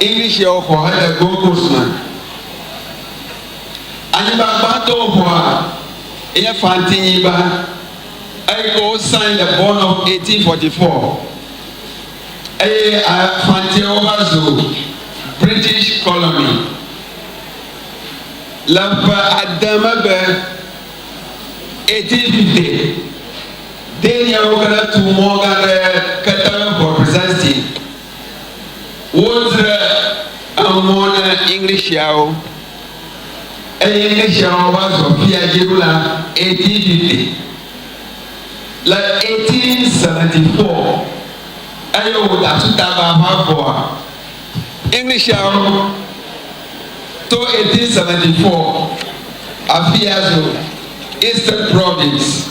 Englishia woxɔ hele Gold Coast me. Anyigba gbãtɔ woxɔa enye Fanti-nyigba, eyi ke wosãe le Bond of 1844, eye Fantiawo va zu British Colony. Le ƒe ade megbe, 1850, Daniawo va tu mɔ gã ɖe Keter Fort Presenstein. Wodzre emɔ na Englishaawo eye Englishaawo va zɔ fia dzi ɖo la, 1850. Le 1874, eye wòda asu ta be aʋa vɔa, Englishaawo to 1874 afia zu Eastern Province.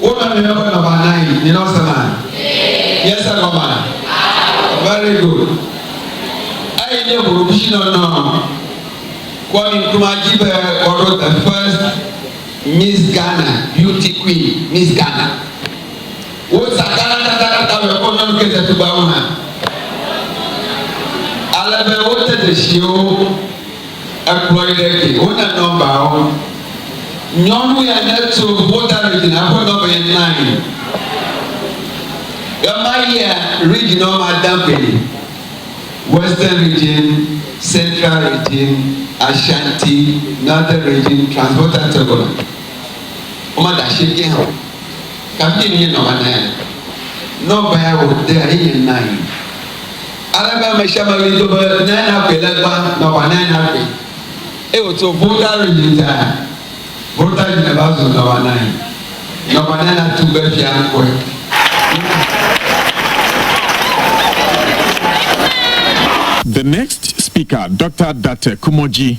Wona miaƒe nɔba nayi. Nyina wose ma? Miese gɔma? Very good. Eyi nye ʋuɖuɖushinɔnɔ. Kwame Nkrumah di be woaɖo the first Miss Ghana, Beauty Queen, Miss Ghana. Wosa Ghana tatatatatame kple wo nyɔnu Kate Tugbawo hã. Ale be wote dzesiwo. Ekplɔe ɖe ke. Wona nɔmbawo. Nyɔnu ya neto ƒota Regina ƒe nɔmba ya nae. Ɣemaɣia Regina wo mada gbe Western Region, Central Region, Ashanti, Northern Region, Transvolta Togoland. Wo mada ashieke hã o. Kafui nye nɔmba na ya. Nɔmba ya wòdea ye nye nae. Ale be ame sia ame ɣli do be, Nae nagbee legba, nɔva nae nagbee. Eye wòtso Volta Regina, Volta Regina va zu nɔva nae. Nɔva nae natu be fia ŋkɔe. The next speaker, Doctor Date Kumoji.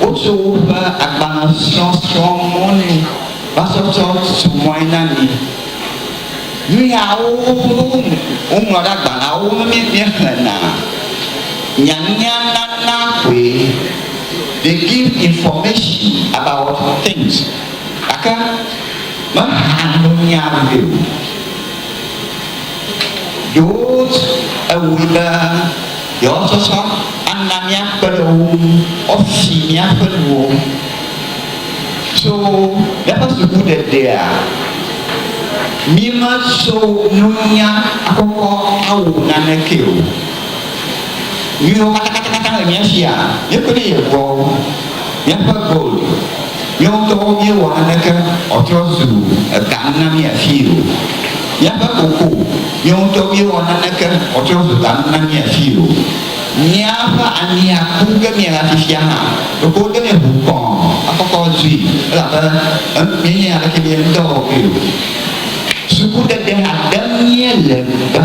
Wotsɔ woƒe agbalẽ srɔ̃ srɔ̃ mɔ nɛ va sɔ tsɔ tu mɔe na mi. Nu yawo woŋlɔ ɖe agbalẽawo me be míexlẽna. Nyanya nana koe. They give information about things gake mehea nunya vɛ o. Ɖewo ewui be. Yewoawo sɔsɔ ana míakpe ɖe wo ŋu woafi míaƒe nuwo. Tso míaƒe sukuɖeɖea, míematso nunya akɔkɔ awɔ naneke o. Nuyiwo katãkatãkatã le mía sia, míekpɔe ɖe Yehowa ŋu, míaƒe gold. Míawo ŋutɔwo míewɔ naneke wòatrɔ zu ga nu na mí afii o. Míaƒe koko, míawo ŋutɔwo míewɔ naneke wòatrɔ zu ga nu na mí afii o. Míaƒe ami aku ge míela fifia hã, ɖeko wode nɛ ʋuu kɔ̃ akɔkɔ zui, elabe míenya aleke míawo ŋutɔwo awɔ kpli o. Sukuɖeɖe hã ɖem míele gbã.